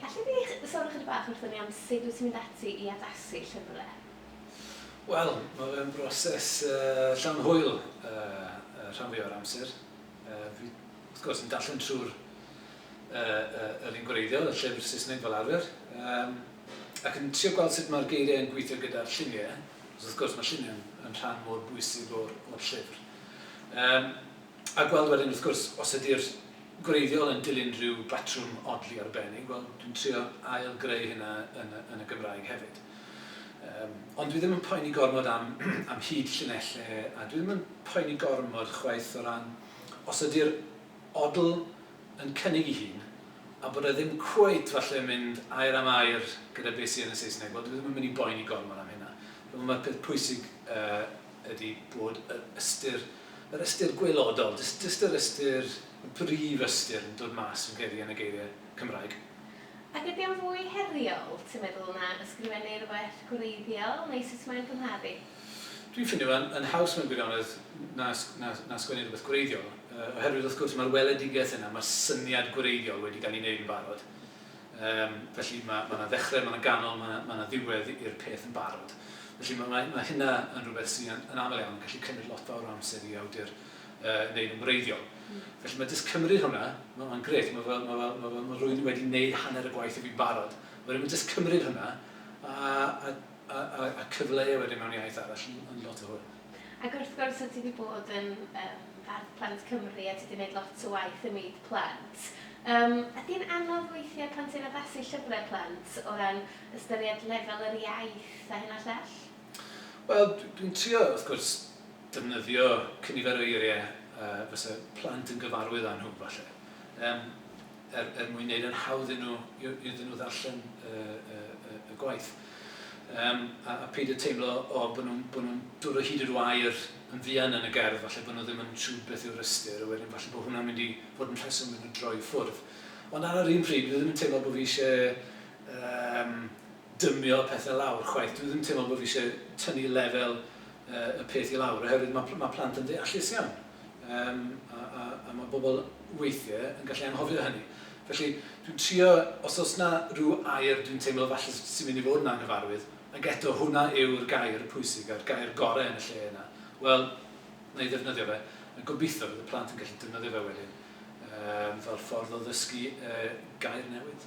Alle di sôn ychydig bach wrthon ni am sut wyt ti'n mynd ati i addasu llyfrau? Wel, mae fe'n broses llawn hwyl y rhan fwyaf o'r amser. Fi, wrth gwrs, yn darllen trwy'r yr un gwreiddiol, y llyfr Saesneg fel arfer, ac yn trio gweld sut mae'r geiriau yn gweithio gyda'r lluniau, achos wrth gwrs mae lluniau yn rhan mor bwysig o'r llyfr. A gweld wedyn wrth gwrs os ydy'r gwreiddiol yn dilyn rhyw batrwm odli arbennig, wel dwi'n trio ail greu hynna yn y, yn y Gymraeg hefyd. Um, ond dwi ddim yn poeni gormod am, am hyd llinelle, a dwi ddim yn poeni gormod chwaith o ran os ydy'r odl yn cynnig i hun, a bod e ddim cweit falle mynd air am air gyda beth sydd yn y Saesneg, wel dwi ddim yn mynd i boeni gormod am hynna. Mae'r peth pwysig uh, ydy bod yr ystyr, yr ystyr gwaelodol, jyst, jyst yr ystyr, y brif ystyr yn dod mas, fi'n credu, yn y geiriau Cymraeg. Ac ydy o'n fwy heriol, ti'n meddwl, na ysgrifennu rhywbeth gwreiddiol, neu sut mae'n cymharu? Dwi'n ffindio fe'n yn haws mewn gwirionedd na, na, na sgwennu rhywbeth gwreiddiol, oherwydd wrth gwrs mae'r weledigaeth yna, mae'r syniad gwreiddiol wedi cael ei wneud yn barod. Yym, felly ma' ma' 'na ddechre, ma' 'na ganol, ma' 'na ma' 'na ddiwedd i'r peth yn barod. Felly ma' ma' ma' hynna yn rhywbeth sy' yn yn aml iawn yn gallu cymryd lot fawr o amser i awdur yy neud yn wreiddiol. Felly ma' jyst cymryd hwnna, ma' ma'n grêt, ma' fel ma' fel ma' fel ma' rywun wedi neud hanner y gwaith i fi'n barod. Wedyn ma' jyst cymryd hwnna a a a, a, a cyfleu wedyn mewn iaith arall yn, yn lot o hwyl. Ac wrth gwrs, o ti wedi bod yn um, fardd plant Cymru a ti wedi gwneud lot o waith ym myd plant. Um, ydy'n anodd weithiau pan ti'n addasu llyfrau plant o ran ystyried lefel yr iaith a hyn a llall? Wel, dwi'n trio, wrth gwrs, defnyddio cynifer o eiriau uh, fysa plant yn gyfarwydd â nhw, falle. Um, er, er mwyn gwneud yn hawdd nhw, iddyn nhw ddarllen y, y, y, y gwaith. Um, a, a peid y teimlo o bod nhw'n nhw, nhw dod o hyd i'r wair yn fuan yn y gerdd, falle bod nhw ddim yn siŵr beth yw'r ystyr, a wedyn falle bod hwnna'n mynd i fod yn rheswm yn y droi ffwrdd. Ond ar yr un pryd, dwi ddim yn teimlo bod fi eisiau um, dymio pethe lawr chwaith. Dwi ddim teimlo bo fi isie tynnu lefel y peth i lawr oherwydd ma ma plant yn ddeallus iawn um, a, a, a mae bobl weithiau yn gallu anghofio hynny. Felly dwi'n trio, os oes na rhyw air dwi'n teimlo falle sy'n mynd i fod yn anghyfarwydd, ac eto hwnna yw'r gair pwysig a'r gair gorau yn y lle yna, wel, na i ddefnyddio fe, a gobeithio bydd y plant yn gallu defnyddio fe wedyn um, fel ffordd o ddysgu uh, gair newydd.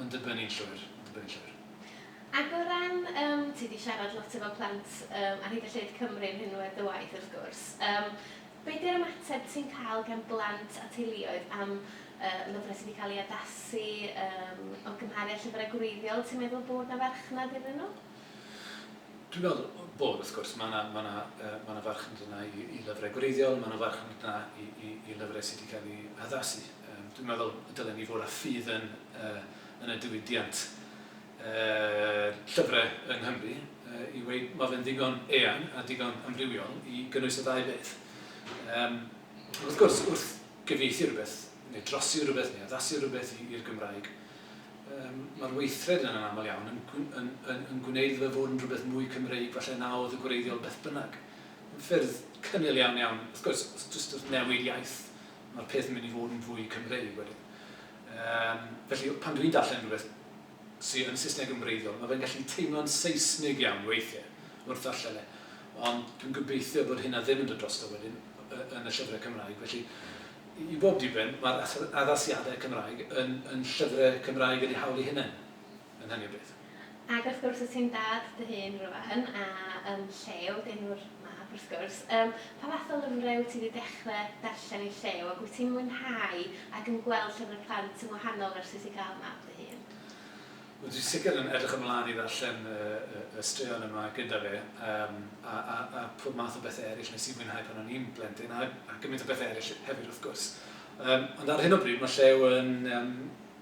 Mae'n dibynnu yn llwyr, mae'n dibynnu yn llwyr. Ac o ran, yym, ti 'di siarad lot efo plant, yym, ar hyd a lled Cymru yn rhinwedd dy waith, wrth gwrs, yym, be 'di'r ymateb ti'n cael gan blant a teuluoedd am, yy, lyfrau sy 'di cael eu addasu, yym, o gymharu â llyfrau gwreiddiol, ti'n meddwl bod 'na farchnad iddyn nhw? Dwi'n meddwl bod, wrth gwrs, mae 'na, mae 'na, yy, mae 'na farchnad yna i i lyfrau gwreiddiol, mae 'na farchnad yna i i i lyfrau sy 'di cael eu haddasu. Dwi'n meddwl y dylen ni fod â ffydd yn yn y diwydiant llyfrau yng Nghymru i weud ma' fe'n ddigon eang a digon amrywiol i gynnwys y ddau beth. Yym wrth gwrs, wrth gyfieithu rhywbeth, neu drosi rhywbeth, neu addasu rhywbeth i i'r Gymraeg, yym ma'r weithred yna'n aml iawn yn gw- yn yn yn gwneud iddo fe fod yn rhywbeth mwy Cymreig falle na oedd yn gwreiddiol beth bynnag. Mae'n ffyrdd cynnil iawn iawn, wrth gwrs, jyst wrth newid iaith, mae'r peth yn mynd i fod yn fwy Cymreig wedyn. Um, felly, pan dwi'n darllen rhywbeth sydd yn Saesneg yn wreiddiol, mae fe'n gallu teimlo'n Saesnig iawn weithiau wrth ddarllen e. Ond dwi'n gobeithio bod hynna ddim yn dod drosto wedyn yn y llyfrau Cymraeg. Felly, i bob diben, mae'r addasiadau Cymraeg yn, yn llyfrau Cymraeg yn ei hawl ei hunain. yn hynny o beth. Ac wrth gwrs wyt ti'n dad dy hun rwan a yn llew, deuwr mab wrth gwrs. Yym, pa fath o lyfrau wyt ti wedi dechrau darllen yn llew ac wyt ti'n mwynhau ac yn gweld llyfrau plant yn wahanol versus i gael mab dy hun? Wel dwi sicr yn edrych ymlaen i ddarllen y, y, y straeon yma gyda fe um, a, a, a pob math o bethau eraill nes i mwynhau pan o'n i'n blentyn a, a gymaint o bethau eraill hefyd wrth gwrs. Um, ond ar hyn o bryd mae llew yn um,